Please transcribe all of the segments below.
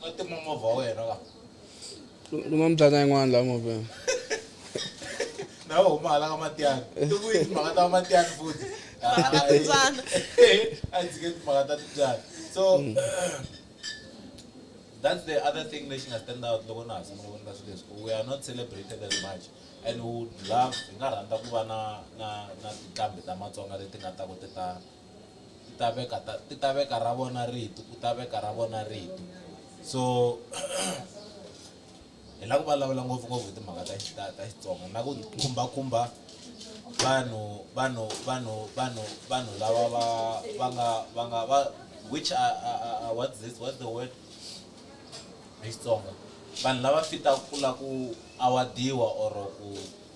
va tima movha wa wena va luma mibyana yin'wana laha movheni na va huma hala ka matiyani ti vuyi timhaka ta matiyani futhi a dzike timhaka ta tibyana so hmm. that's the other thing lexi nga stand out loko na ha sungula ku endla swilo leswi we are not celebrated as much and would love hi nga rhandza ku va na na na tinqambi ta matsonga leti nga ta ku ti ta ti ta veka ta ti ta veka ra vona rito ku ta veka ra vona rito so hi lava ku vulavula ngopfungopfu hi timhaka ta ta ta Xitsonga na ku khumbakhumba vanhu vanhu vanhu vanhu vanhu lava va va nga va nga va which are, are, are, are what's this what's the word hi Xitsonga vanhu lava fitaka ku la ku awadiwa or ku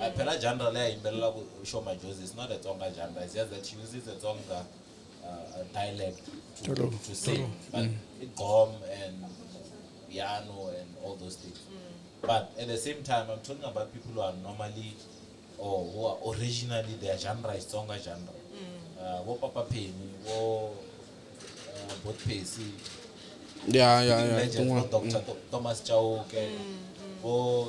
I phela genre leyi a yimbelelaka xo majozi is not a tsonga genre it's just that she uses a tsonga uh, a dialect to, Tolo, to sing but i gqom and piano and all those things but at the same time i'm talking about people who are normally or who are originally their genre is tsonga genre uh, wo papa pheni wo uh, bot phesi ya ya ya legends tin'wana vo dr Tho- thomas chauke vo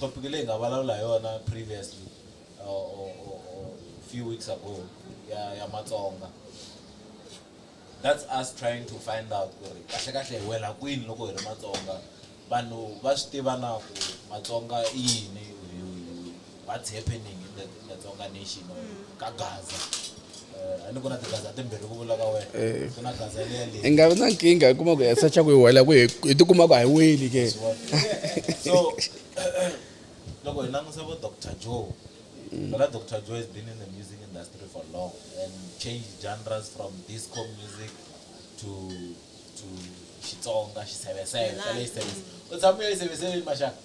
topic leyi nga vulavula hi yona previously or, or, or, or few weeks ago ya, ya matsonga that's us trying to find out ku ri kahle kahle hi wela kwini loko hi ri matsonga vanhu va swi tiva na ku matsonga i yini what's happening in the, in the Tonga nation or ka Gaza uh, and kuna tigaza timbirhi ku vula ka wena eh. kuna gaza leya leyi nga na nkingha yi kuma ku ya sacha ku yi wela ku hi tikuma ku a hi weli ke so loko hi langusa vo dr joe Bala mm. Dr. Joe has been in the music industry for long and changed genres from disco music to to Xitsonga, Xiseveseve, Xiseveseve. U tshame u Xiseveseve mashaka?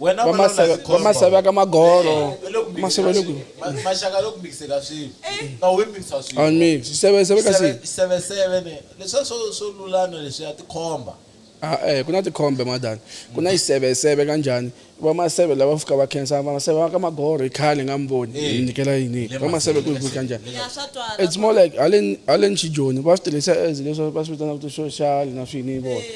wena va vulavula maseve va tikhombo. maseve ya ka magolo Hi le ku mikiseni maseve ka le ku swilo. Ma- maxaka loko mikise ka swilo ka we mikisa swilo ami siseve seve ka Seve- si seveseve ni leswiya swo swo lulana leswiya tikhomba ah eh ku na tikhombe madani ku na iseveseve kanjhani va maseve lava fika va khensa va maseve va ka magolo hi khale nga mi voni Eh. hi mi nyikela yini Hi le va maseve ku hi ku kanjhani Ya swa twala. it's more like haleni haleni xijoni va swi tirhisa as leswi va swi vitanaka ti-social na swini vona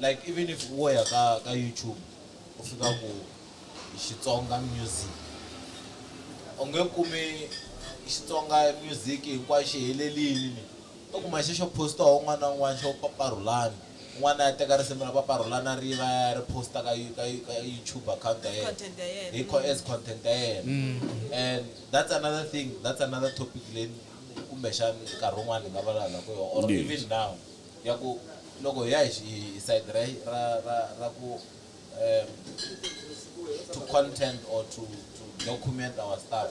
Like even if wo ya ka ka YouTube u fika ku Xitsonga music u nge kumi Xitsonga music hinkwaxo xi helelini ni u kuma xi xo post-iwa hi un'wana na un'wana xo Papa Rhulani un'wana a ya teka risimu ra Papa Rhulani a ri yiva a ya ya ri post-a ka ka ka YouTube account ya yena Content ya yena hi ko as content ya yena and that's another thing that's another topic leyi kumbexana nkarhi wun'wana hi nga vulavulaka hi yona or even now. Ya ku loko hi ya hi hi side ra ra ra ra ku um to content or to to document our stuff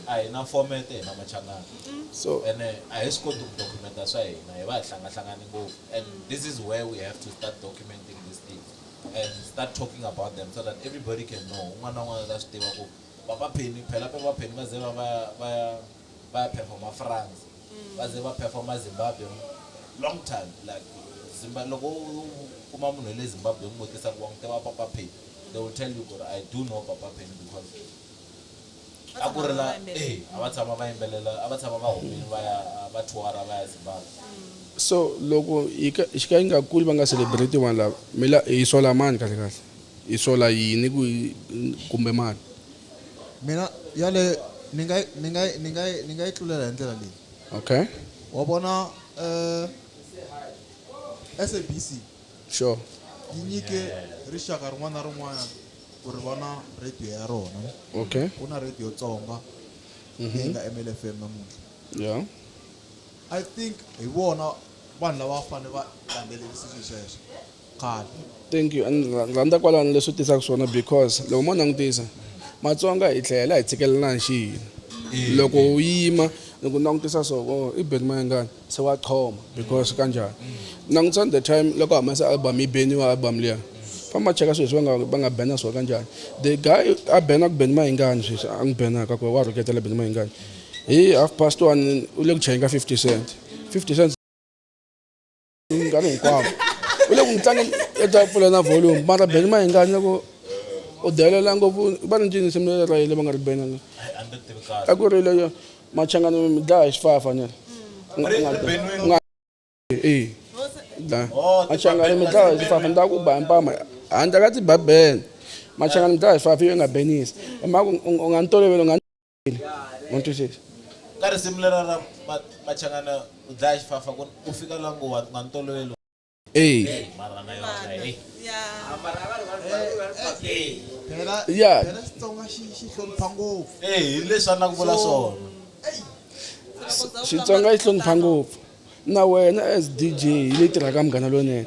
a hi na format hi na machangana so ene a hi swi koti ku documenta swa hina hi va hi hlangahlangane ngopfu and this is where we have to start documenting these things and start talking about them so that everybody can know un'wana na un'wana ta swi tiva ku papa pheni phela papa pheni va ze va va va ya va ya performa france vaze va performer Zimbabwe long time like Zimba loko u kuma munhu wale Zimbabwe u n'wi vutisa ku wa n'wi tiva Papa Penny they will tell you ku ri I do know Papa Penny because a ku ri la e a va tshama va yimbelela a va tshama va humile va ya va tour-a va ya Zimbabwe. So loko yi ka xi ka yi nga kuli va nga celebrate vanhu lava mi la hi sola mani kahle kahle hi sola yini ku kumbe mani. mina yaleyo ni nga ni nga ni nga ni nga yi tlulela hi ndlela leyi okay wa vona eh SABC sure yi nyike rixaka rin'wana na rin'wana ku ri vona radio ya rona okay ku na radio tsonga mhm. leyi nga MLFM namuntlha yeah i think hi vona vanhu lava fanele va landzelerisa swilo sweswo Qal. Thank you and rhandza kwalano leswi tisaka swona because loko mo langutisa Matsonga hi tlhela hi tshikelelana xi yini loko u yima loko langutisa so oh, i beni mayengani se wa choma because kanjani langutisa the time loko humesa album yi beniwa album liya famba cheka sweswi va nga va nga bena swona kanjani the guy a bena ku beni mayengani sweswi a n'wi benaka ku wa rhuketela beni mayengani hi half past one u le ku chayeni ka fifty cent fifty cent nkarhi hinkwavo u le ku n'wi tlangeni i ta pfula na volume mara beni ma hingani loko u delela ngopfu va ni ncini nsimu ra yile va nga ri beni a ku ri leyo machangani mi dlaya hi xifafa ni ri machangani mi dlaya hi xifafa ni ta ku ba mpama handle ka tiba bene machangani mi dlaya hi xifafa yo nga benisi hi mhaka u nga ni toloveli u nga One, two, six. ka risimu lera ra Ma- machangana u dlaya xifafa ku ku fika la ngo wa nga ni toloveli Hey. mara na yona hey phela Yeah. phela xitsonga xi xi hlonipha ngopfu eh hi leswi a na ku vula swona Xitsonga yi hlonipha ngopfu. Na wena as DJ yi leyi tirhaka munghana lonene.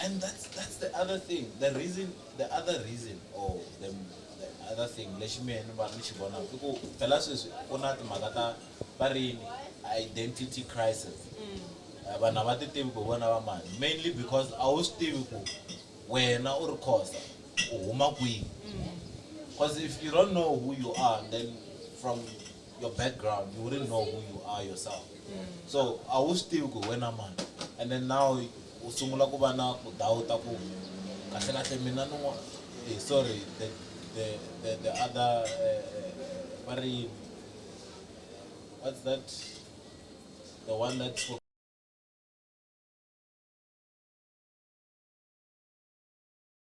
And that's that's the other thing. The reason, the other reason, or the, the other thing, lexi mehe ni va ni xi vonaka i ku phela sweswi ku na timhaka ta va ri yini identity crisis Eh, vanhu a va ti tivi ku vona va mani mainly because a wu swi tivi ku wena u ri khosa u huma kwihi because if you don't know who you are then from your background you wouldn't know who you are yourself so a wu swi tivi ku hi wena mani and then now u sungula ku va na ku dawuta ku kahle kahle mina ni n'wa- eh, sorry the, the, the, the other eh, eh, va ri yini? what's that the one that spoke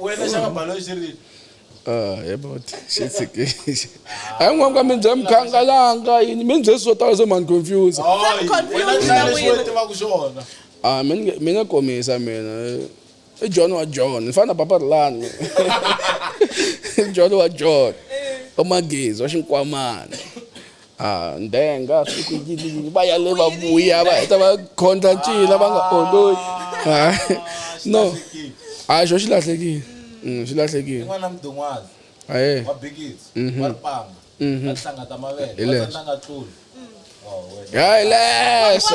wena xaka balo xi ri Ah, he bot xi tshikile hayi n'wanka mi bya mukhangalanga yini mi ni byesi swo tala swo mani confuse Oh, wena confused hlaya na lexi wena. wena tivaka xona Ah, mi nge- mi nga komisa mina i john wa john ni fana na papa rilani i john wa john wa magezi wa xinkwamana A ndenga swi ku yini va yale va vuya va heta va khondla ncila va nga oloyi ah, no a xo xi lahlekile mm, xi lahlekile aye hayi lese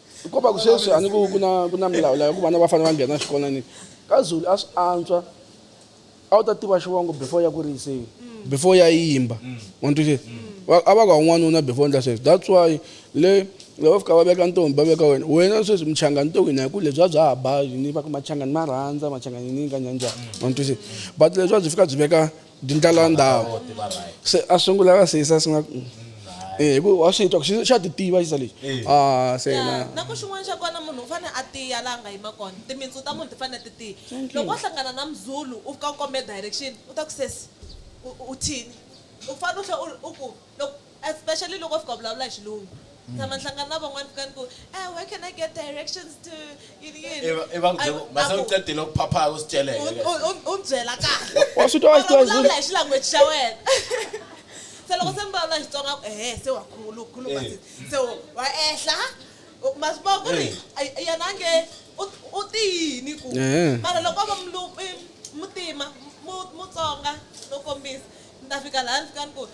hikuva sweswi a ni ku ku na ku na milawu layo ku vana va fanele va nghena xikolweni ka zulu a swi antswa a wu ta tiva xivongo before ya ku riyiseni before ya yimba wantuxe a va ka un'wanuna before ndla sweswi that's why le loko fika va veka ntombi va veka wena wena sweswi muchangani to wina hi ku lebyi a bya ha ba yini va ku machangani ma rhandza machangani ni ka nyanjani wantuxe but leswi a byi fika byi veka ndlala ndhawu se a sungula ka sesa swi nga eh ku wa swi twa ku xa ti tiva xisa lexi eh. ah se na na ku xin'wana xa kona munhu u fane a tiya la nga yima kona timitsu ta munhu ti fane ti tiya loko u hlangana na mzulu u fika u kombe direction u ta ku sesi u thini u fane u tlhe u ku Loko, especially loko fika u vulavula hi xilungu. Ni tshama ni hlangana na van'wana fika ni ku, Eh, where can I get directions to yini yini? Ivi, ivi va ku byela ku, mase u qedile ku phaphaya u swi celeke U, ke. u, u, u ni byela kahle. Wa swi twa, wa swi twa, Or u vulavula hi xilanguage xa wena. Se loko se mi vulavula Xitsonga a ku, Ehe, se wa khulu, u khuluma se, se u, wa ehla. U, ma swi vona ku ri yena a nge u, u te yini ku. Mara loko o va Mlu, i, Mutima, Mu, Mutsonga, no kombisa. ni ta fika laha ni fika ni ku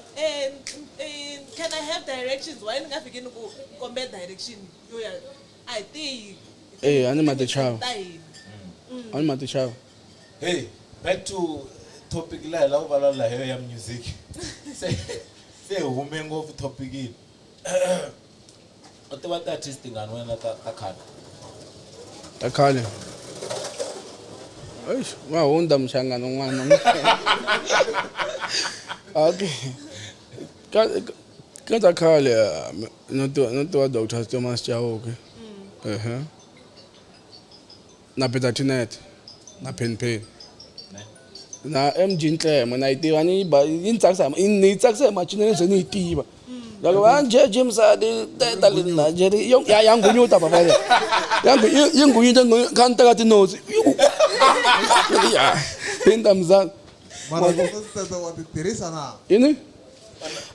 can i have directions why ni nga fiki ni ku kombe direction yo ya a hi tiyi e a ni ma tichava ta hina mm. a ni ma tichava hey back to topic la hi la ku vulavula hi yo ya music se se hume ngopfu topic yini u tiva ti-artist tingani wena ta ta khale ta khale eish wa hundza muhlangano n'wana okay ka ka- ka ta khale ah, mi- no tiva no tiva dr thomas chauke ehe na Peter Tinette na Penny Penny na MG Ntleme na yi tiva ni ba yi ni tsakisa ni tsakisa hi macinelo ze ni yi tiva loko va nje Jim Sadi teta le na nje yo ya ya ngunyuta baba le ya ngu yi ngunyuta ngu kan ta ka ti nose ya pinda mzan mara ku teta wa ti tirhisa na yini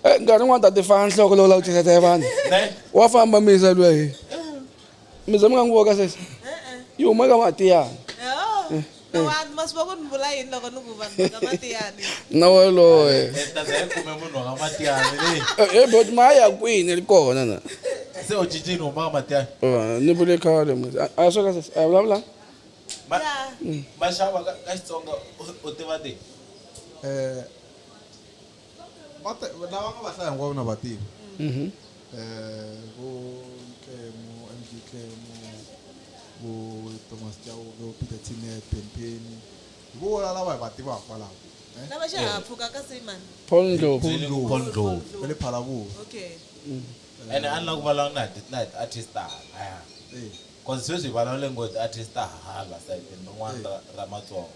eh nkarhi n'wana ta ti fana nhloko lowu la ku tirhisa vanhu wa famba misa lweyi Mizwa mi nga n'wi voka sesi yi huma ka matiyani na woloye ebot ma ya kwini ri kona na ni vule khale a sweka sesi a vulavula maxava ka xitsonga u tiva ti lava nga va hlaya hinkwavo na va tiva um vo ntlemo mg ntlemo vo thomas chauke vo peter tinet benpeni hi vo wona lava hi va tivaka kwalaho eh? lava xihahampfhuka ka simon paul ndlovu Paul Ndlovu. va le phalavuva okay and a ni lava ku vulavula na hi na hi ti-artist ta halaya Eh, cause sweswi hi vulavule ngo hi ti-artist ta hala sayitini rin'wana ra ra matsonga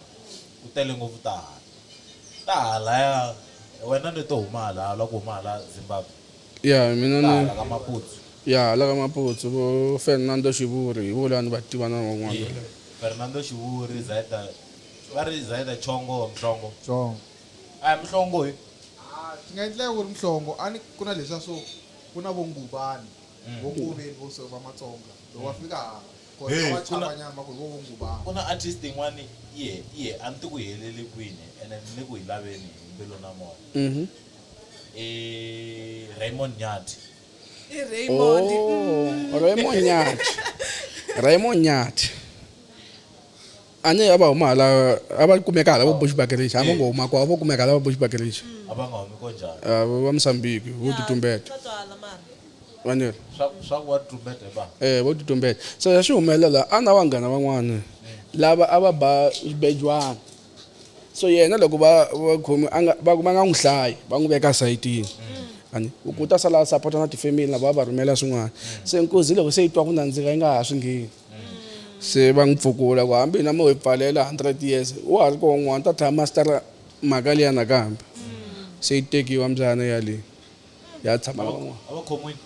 Ku tele ngopfu ta hala. Ta halaya wena ni to huma halaya u la ku huma hala Zimbabwe? Ya mina ni. Ta hala ka Maputsu. Ya hala ka Maputsu vo Fernando Xivuri hi vo la ni va tiva na van'wana va le. Fernando Xivuri, Zaida va ri Zaida Chongo or Mhlongo? Chongo. A hi Mhlongo hi. Ha swi nga endleka ku ri Mhlongo a ni ku na leswiya swo ku na vo Ngubani vo Ngoveni vo so va Matsonga loko va fika hala. Kona Hey. wa chava nyama ku ri wo vo ngubana. Ku na artist yin'wani yi he yi he a ni ti ku yi helele kwini ene ni le ku yi laveni hi mbilu na moya i Raymond Nyathi. I Raymond. Oh, Raymond Nyathi. Raymond Nyathi. a ne a va huma hala a va kumeka hala vo bushbakerisha a va ngo huma ko a vo kumeka hala va bushbakerisha a va nga humi ko njhani Ah, va musambiki vo Ya, tutumbeta swa twala mara vaniri swa swa ku wa tumbete va eh vo tutumbeta so ya swi humelela a na vanghana van'wana lava a va ba xibejwana so yena loko va va khomi a nga va va nga n'wi hlayi va n'wi veka sayitini ani u ku ta sala a sapota na tifemini lava va va rhumela swin'wana se nkuzi loko se yi twa ku nandzika yi nga ha swi ngheni se va n'wi pfukula ku hambi hina mo hi pfalela 100 years wa ha ri koho n'wana ta tlhela mastara mhaka liya nakambe se yi tekiwa mbyana yaleyi ya tshama na van'wana a va khomiwile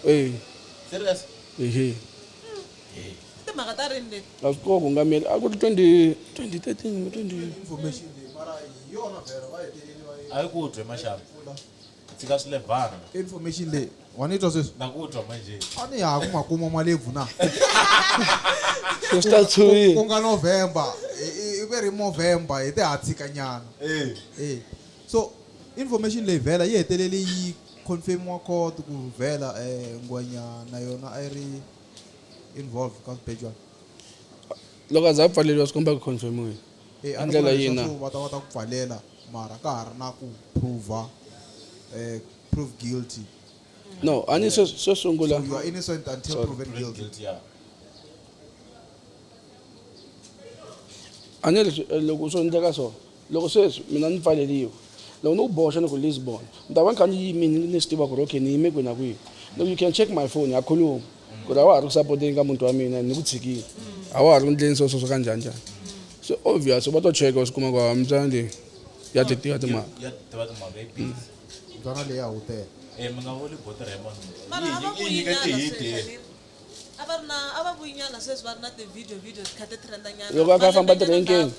e serious ehe timhaka ta rini leti a swi koho ku nga mele a ku ri 20 2013 20 information leyi mara hi yona vhela va hetelele va yi a yi ku dwe maxaka Tshika swi lebhana. Information leyi wa ni twa sweswi. Na ku twa manje. A ni ya ku makumo ma lebvu na. Ku swi ta tshuwi. Ku nga November i ve ri Movember hi te ha tshika nyana. Eh. Eh. So information leyi vhela yi hetelele yi confirmiwa court ku vhela eh Ngwenya na yona a yi ri involved ka swibejwana. Loko a za a pfaleriwa swi komba ku confirmiwile. Eh, Hi a ni ndlela vula leswaku yina. va ta va ta ku pfalela mara ka ha ri na ku prove eh, prove guilty no a ni swo swo sungula you are innocent until Sorry. proven guilty a ni leswi eh, loko swo endleka so loko sweswi mina ni pfaleliwe loko ni ku boxa ni ku lisbon ni ta va ni kha ni yimini ni swi tiva ku ri okay ni yime kwihi na kwihi loko you can check my phone ya khuluma ku ri a wa ha ri ku sapoteni ka muti wa mina ni ku tshikile a wa ha ri ku ndleni sweswo swo ka njhani njhani so obvious va to cheka va swi kuma ku hava mbyana leyi ya ti tiva timhaka mbyana leyi a wu tele eh, mi nga voni bota ra yimona yinyike tihidi loko a kha a famba tirenkeni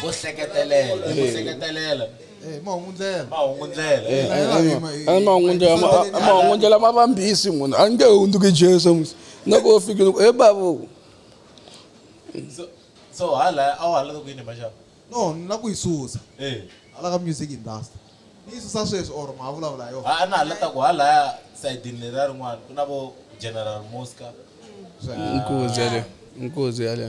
ku hleketelela ku hleketelela Eh, mahungundlela mahungundlela Eh, eh, eh, ma- eh, mahungundlela ma- ah, mahungundlela ma vambisi munhu a nge hundzuki jesu musi loko u fikile ku e babu so so hala a wu halata ku yini maxava no ni la ku yi susa eh hala ka music industry ni yi susa sweswi or ma vulavula hi yona a a na halata ku halaya sayidini leriya rin'wana ku na vo general mosca nkuzi yaleyo nkuzi yaleyo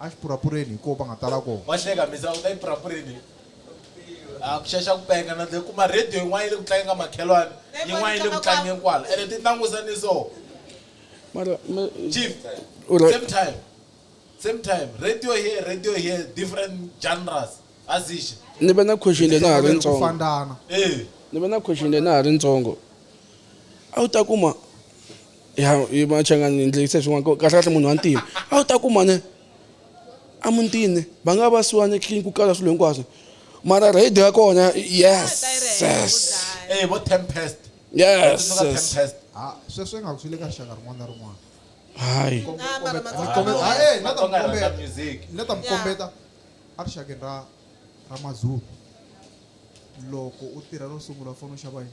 Axipurapureni hi koho va nga tala koho. Wa hleka mhisa u ta epurapureni a ku xaxa ku penga na dle kuma radio yin'wana yi le ku tlangeni ka makhelwani yin'wana yi le ku tlangeni kwala ene ti tlangusa ni so Mara me chief u same time same time radio here radio here different genres a zixe ni ve na question leyi na ha ri Tinhlokomere ku ntsongo fandana. eh ni ve na question leyi na ha ri ntsongo a wu ta kuma ya machanga ni ndlekisa swin'wana ku kahle kahle munhu wa ntima a wu ta kuma ne a mutini va nga va siwana clean ku kala swilo hinkwaswo mara radio ya kona yes yes eh vo tempest yes tempest ha sweswo nga kusile ka shaka rin'wana na rin'wana hayi na ta mukombeta music na ta mukombeta a ri shakeni ra ra mazulu loko u tirha ro sungula u fanele u xava yini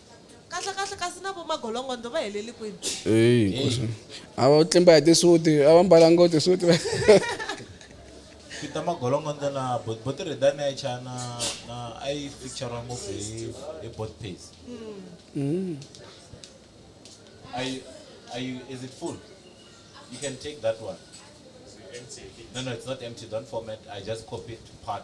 Kahle kahle kasi na vo magolongondo va heleli kwini? Eyi nkosi. A va tlimba hi tisuti, a va mbala ngo tisuti. Peter Magolongondo na Bot Bot Rhedani a yi chaya na na a yi feature ngopfu hi hi Bot Pace. Are you, are you, is it full? You can take that one. No, no, it's not empty. Don't format. I just copied part.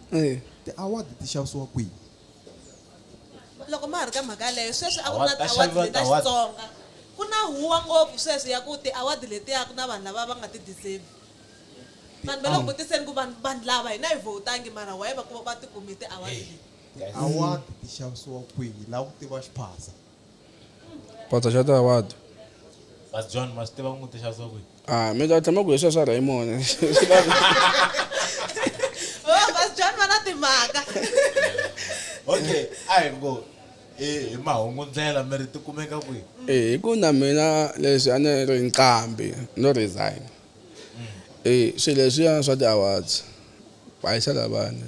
Eya. Ti-award ti xavisiwa kwihi? Loko ma ha ri ka mhaka yaleyo, sweswi a ku ri na ti-award leti ta Xitsonga. Ku na huwa ngopfu sweswi ya ku ti-award letiya ku na vanhu lava va nga ti deserve. Vanhu va le ku vutiseni ku vanhu vanhu lava hina hi vote-angi mara why va va ti kume ti-award leti? Ti-award ti xavisiwa kwihi? Hi lava ku tiva xiphaza. Phatsa xa ta what? But John ma swi tiva ku n'wi tixa swa ku Ah, mi ta tshama ku hi sweswa Raymond. Oh, Pastor John va na timhaka. okay a hi ngo hi hi mahungu ndlela mi ri ti kumeka kwihi Eh, hi ku na mina leswi a ni ri nqambi no resign. Eh, swilo leswiya swa ti-awards va yisa lavana.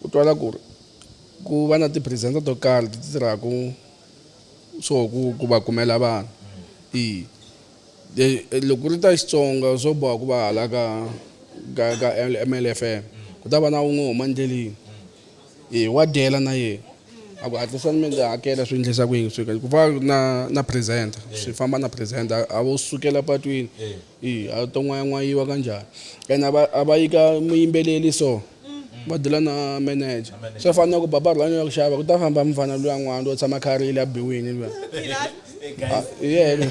U twala ku ri ku va na ti-presenter to karhi ti tirhaka swo ku ku va kumela vanhu i loko ri ta Xitsonga swo boha ku va hala ka ka ka MLFM ku ta va na wun'we huma ndleleni e wa dyela na yena a ku hatlisani mi ndzi hakela swi endlisa ku yini swi ku va na na presenter swi famba na presenter a vo sukela patwini. Ii, a to n'wayan'wayiwa kanjhani and a va a va yika muyimbeleri so va dela na manager swo fana na ku baba rhulani ya ku xava ku ta famba mufana luya n'wana lo tshama kharile a biwini luya Ah, hi yena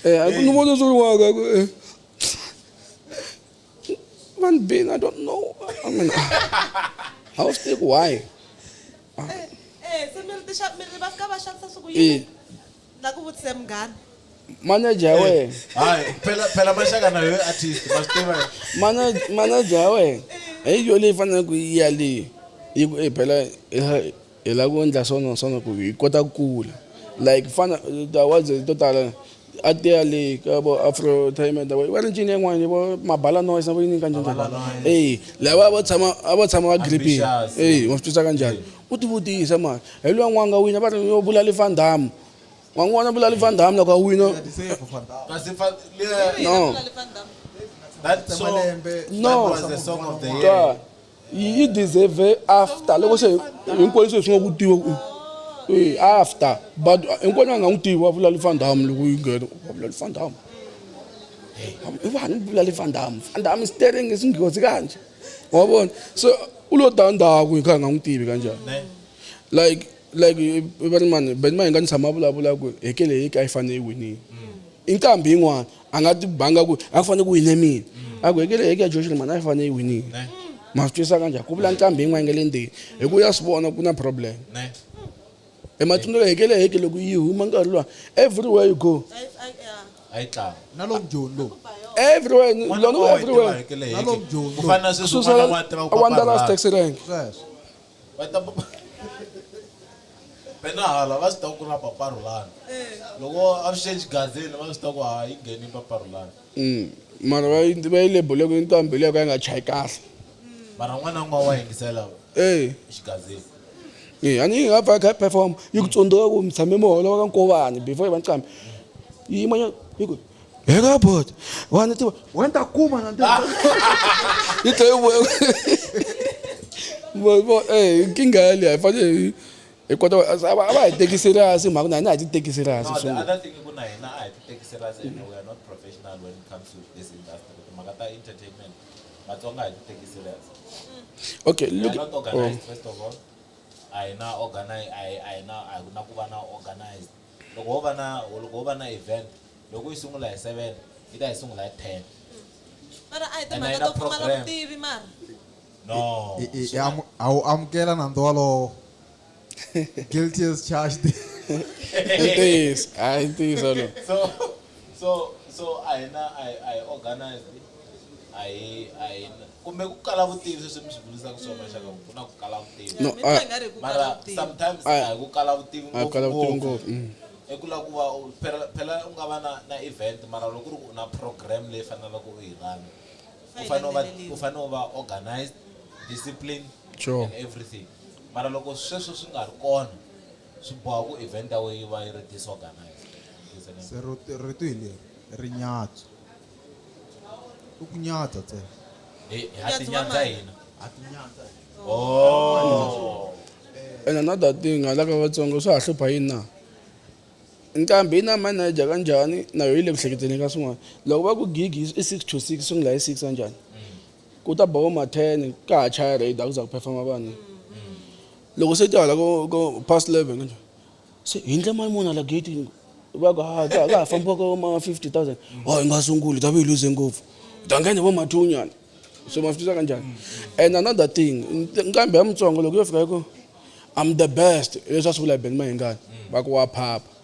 Eh, a ku ni vona swi ri waka ku eh. van bin i don't know I mean, ah, how stick why Eh, se mi ri tixa- mi ri va fika va xavisa siku yini? Eh, nga ku vutise munghana manager ya wena hayi phela phela maxaka na yohe artist ma swi tiva Manaj- manager ya wena hi yo leyi fanele ku yi ya leyi yi ku "Eh, phela hi la- hi lava ku endla swona swona ku hi kota ku kula like fana tiawards to tala a ti ya le ka vo afro time ta va ri ncini yin'wana vo mabala noise na vo yini kanjhani eyi lava a va tshama a va tshama va gripini Ambitious. eyi wa swi twisa kanjhani U ti vutisa mara hi loyi n'wanga wina va ri yo bulali van dam wa n'wi vona bulali van dam loko a wina no yi deserve after loko se hinkwenu se swi nga ku tiwa eh, after but hinkwenu a nga n'wi tivi wa bulali van dam loko yi nghena wa bulali van dam i vanhu bulali van dam van dam stering i singhozi kanje wa vona so u lo ta ndhaku hi kha hi nga n'wi tivi kanjhani like like va ri mani benima hi nga ni tshama vulavula ku hekele hi ka yi fanele yi winile i nkambi yin'wana a nga ti banga ku a fanele ku wine mina a ku hekele heke ya josh ri mani a yi fanele yi winile ma swi twisa kanjhani ku vula nkambi yin'wana yi nga le ndzeni hi ku ya swi vona ku na problem e matsundzulo hi kele heke loko yi huma nkarhi luwa everywhere you go a yi tlanga na lo mjoni lo everywhere lona ku everywhere na lo mjoni ku fana na sweswi n'wana wa tiva ku wanderlust taxi rank sweswo va ta pena hala va swi tiva ku na paparulana loko avuxeni xigazini va swi tiva ku ha yi ngheni paparulana mm, mara va yi va yi lebule ku yi ntambi leyo ka yi nga chayi kahle mara n'wana n'wana wa yingisela ee xigazini Eh, a ni nga pfa kha perform yi ku tsundzuka ku mi tshame mi holova ka nkovani before yi va ncambi yi yimanyana yi ku heka bot wani tiva wena ta kuma na yi tlhe yi vuya eh, nkingha yaleyi a yi fanele hi kota a va a va hi teki serious hi mhaka na hina a hi ti teki serious no, the other thing ku na hina a hi ti teki serious and we are not professional when it comes to this industry timhaka ta entertainment Matsonga hi ti teki serious. Okay, look. We are not organized oh. first of all. A hi na organize a hi a hi na a na ku va na organized. Loko ho va na loko ho va na event loko yi sungula hi 7 yi ta yi sungula hi 10. Mara a hi timhaka to pfumala vutivi mara. No. A wu amukela nandzu walowo. Guilty as charged. ntiyiso hayi ntiyiso lo so so so a hi na a hi organized a hi a hi kumbe ku kala vutivi sweswi mi swi vulisaka swona maxaka ku na ku kala vutivi no mara sometimes a hi ku kala vutivi ngopfu mm. i ku lava ku va phela u nga va na na event mara loko ku ri u na program leyi faneleke u yi rana u fanele u va u fanele u va organized discipline sure. and everything Mara loko sweswo swi nga ri kona, swi boha ku evhenta we yi va yi ri disorganized. Is an. Se rito, rito hi leri, ri nyadzu. I ku nyadza ntsena. Hi, ha Nyadzi wa tinyadza mani? hina. Ha tinyadza hina. Oh. And another thing hala ka Vatsonga swa ha hlupha yini na? Nqambi yi na manager ka njhani na yo yi le ku hleketeni ka swin'wana. Loko va ku gig i six to six swi sungula hi six ka njhani? Ku ta ba vo ma 10 ka ha chaya raid a ku za ku performa vanhu. Loko se ti hala ko ko past 11 kanje. Se hi ndle mali muni hala gate va ku ha ka ha fambiwa ko ma 50000. Oh hi nga sunguli hi ta va hi lose ngopfu. Hi ta nghena hi vo ma 2 nyana. So ma swi tisa kanjhani. And another thing nkambi ya mutsongo loko yo fika yi ku I'm the best leswi a swi vula hi Ben Mayengani va ku wa phapha.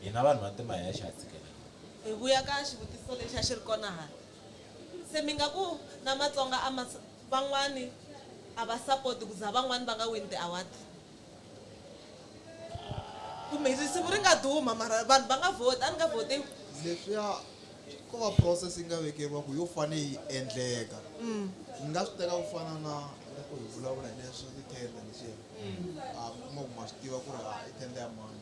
Hina vanhu vantima hi ya xi hatsikela loku. Hi vuya ka xivutiso lexi a xi ri kona hala, se mi nga ku na Matsonga a ma van'wani a va support ku za van'wani va nga wini ti award? Kumbe risimu ri nga duma mara vanhu va nga vhoti, a ni nga vhotiwi? Leswiya ko va process yi nga vekeriwa ku yo fane yi endleka. Ni nga swi teka ku fana na loko hi vulavula hi leswa ti tender leswiya. a kuma ku ma swi tiva ku ri a i tenda ya mani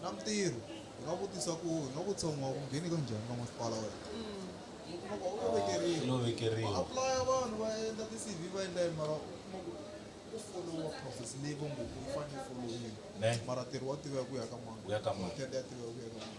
na mintirho hi nga vutisa ku hi nga vutisa n'wa ku ngheni ka njhani ka masipala wena u kuma ku u vekeriwa no vekeriwa va aplaya vanhu va endla ti-cv va endla yini mara u kuma ku u followa process leyi va ngo ku yi fanele yi folowiwa ne mara ntirho wa tiveka ku ya ka mani Ku ya ka mani. tenda ya tiveka ku ya ka mani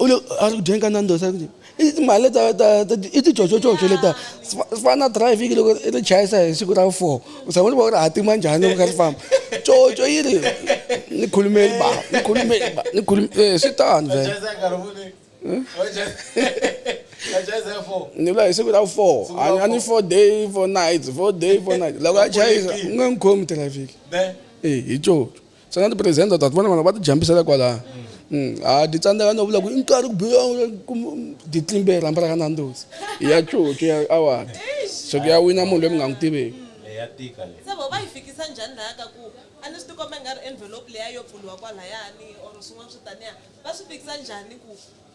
u le a ri ku dyeni ka nandos a ri ku i timali leta ta i ticocococo leta swi fana na driving loko i ri chayisa hi siku ra four u tshama u ri va u ri hatima njhani loko u kha ri famba coco yi ri ni khulumeli ba ni khulumeli ba ni khulumeli eh, swi tano ni vula hi siku ra four a ni four day four nights four day four night loko a chayisa u nge n'wi khomi traffic e hi coco Xana tipresente u ta ti vona vana va ti jambisela kwalaya? Mm, ha di tsandzeka no vula ku i nkarhi ku biwa di tlimbe hi rhamba ra ka Nandozi hi ya coco ya awara so ku ya wina munhu loyi mi nga n'wi tiveki ya tika leyi se vo va yi fikisa njhani laha ka ku a ni swi tikomba i nga ri envelope leya yo pfuriwa kwalayani or swin'wana swo taniya va swi fikisa njhani ku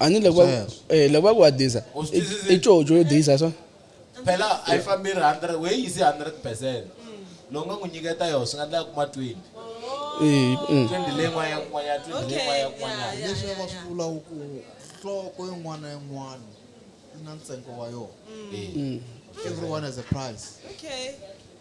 a ni loko va- eh, loko va ku wa disa U swi twisisile? i coco yo disa swa phela a yi fambi ri 100 we yisi 100 percent lowu nga n'wi nyiketa yona swi nga ndla kuma 20 Eh, mm. 20 leyi n'wana ya kun'wanyana 20 leyi n'wana ya kun'wanyana leswi va swi vulaka ku nhloko yin'wana na yin'wana yi na ntsengo wa yona Mm. everyone has a price Okay.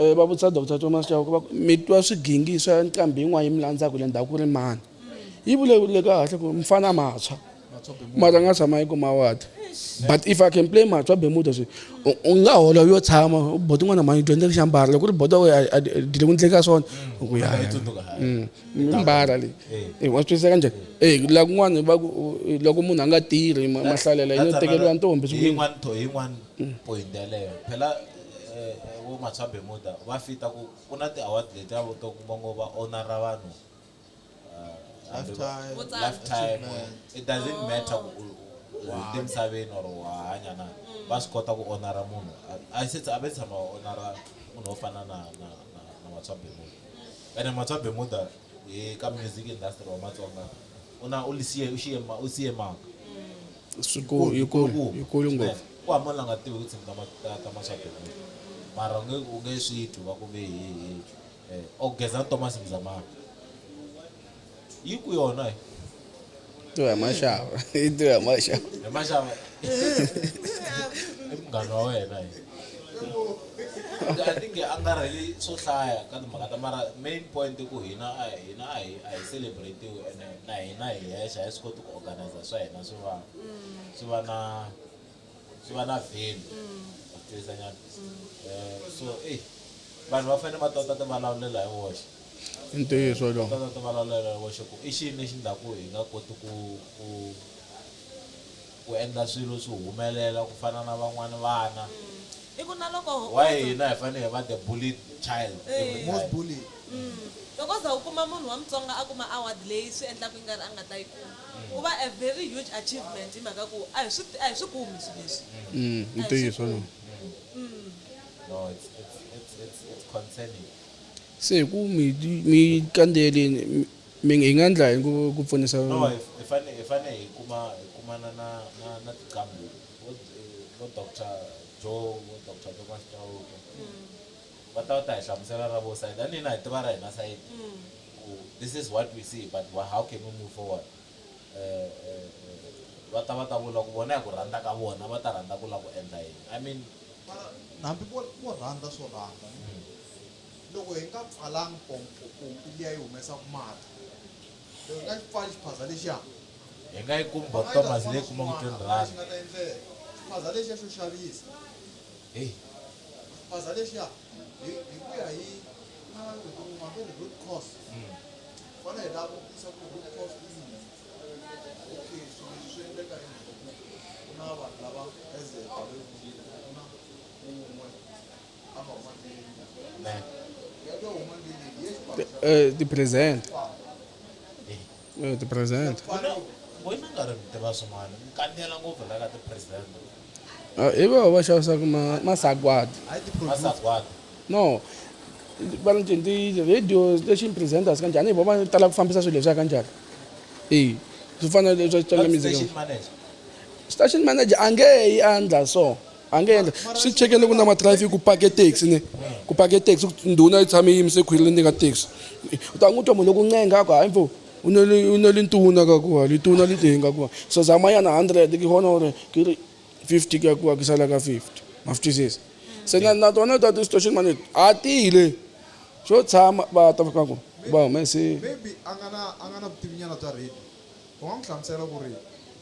Eh, va vutisa Dr Thomas Chauke va ku mi twa swigingi swa nqambi yin'wana yi mi landzaka le ndhawu ku ri mani yi vulavule kahle ku mfana mathswa mara nga tshama yi kuma wadi but if i can play mathswa bemuda swi u nga hola yo tshama bodo n'wana mani dyondza ku xambara loko ri bodo dile ku ndleka swona ku ya mm, mbara leyi eh. wa swi twisisa ka njhani eh, e laha kun'wana va ku loko munhu a nga tirhi mahlalelo yo tekeriwa ntombi Point yaleyo phela vo Matswambe Muda va fita ku ku na ti award letiya vo to kuma ngo va honora vanhu hambi va Lifetime lifetime achievement. it doesn't matter ku u u hundze misaveni or wa ha hanya na va swi kota ku honora munhu a se a ve tshama va honora munhu wo fana na na na na Matswambe Muda ene Matswambe Muda hi ka music industry wa Matsonga. u na u lisiye u xiye ma u siye mhaka swikulu yikulu yikulu ngopfu ku hambana la nga tivi ku tshimi ta ma- ta- ta maswadomu mara u nge u nge swi twi va ku ve hi hi eh, o geza na thomas mzamana yi ku yona hi tiwa hi maxava yi tiwa hi maxava hi maxava i munghana wa wena hi I think hi angarhele swo hlaya ka timhaka ta mara main point i ku hina a hina a hi a hi celebratiwe ene na hina hi hexe a hi swi koti ku organizer swa hina swi va swi va na swi va na value wa tivisa nyana um so ey vanhu va fanele va tota ti vulavulela hi woxe i ntiyiso lowu tota ti vulavulela hi woxe ku i xini lexi ndlaku hi nga koti ku ku ku endla swilo swi humelela ku fana na van'wana vana wa hina hi fanele hi va the bullied child every time. Loko za u kuma munhu wa Mutsonga a kuma award leyi swi endlaka yi nga ri a nga ta yi kuma ku va a very huge achievement hi mhaka ku a hi swi a hi swi kumi swilo leswi a hi swi kumi. No it's it's it's it's it's concerning. Se hi ku mi kandziyeleni. Ming, Hi nga ndla yini ku pfunisa. Hi fane hi kumana na tiqambhi vo Doctor Joe, vo Doctor Thomas Chauke, va ta va ta hi hlamusela ra vo side, a ni hina hi tiva ra hina side ku this is what we see but how can we move forward. Va ta va ta vula ku vona hi ku rhandza ka vona va ta rhandza ku la ku endla yini. I mean. Mara hambi vo rhandza swo rhandza. loko hi nga pfalanga pompo pompi liya yi humesaka mati loko hi nga xi pfali xiphaza lexiya hi nga yi kumi bot thomas leyi kumaka twenty rand nga ta endleka xiphaza lexiya xo xavisa heyi xiphaza lexiya hi ku ya hi maveri root cause hmm. fana hi lava kutisa ku root cause i yini okay so swi endleka hi ku na vanhu lava as a Eh, ti presente Eh, ti presente wena nga ri tiva swin'wana mi kanela ngopfu la ka ti-president Ah, hi vona va xavisaka ma- masagwadi masagwadi no va ni ti- ti radio station presenters kanjhani hi vona va tala ku fambisa swilo leswiya kanjhani eyi swi fana na leswi va swi tala music station manager station manager a nge yi a ndla so a nge endla swi chekele ku na matraffic ku pake taxi ne ku pake taxi ndhuna yi tshame yimise khwiri ni ka taxi u ta n'wi twa munhu loku ncenga a ku hayi mfo u ne li ntuna ka kuwa lituna li teni ka kuwa so zamayana hundred ki hona ore ki ri fifty ka kuwa ki sala ka fifty ma swi twisisa se na na tona ta ti-station mane a tile xo tshama va ta fika ku va humese maybe a nga na a nga na vutivinyana bya radio u nga n'wi hlamusela ku ri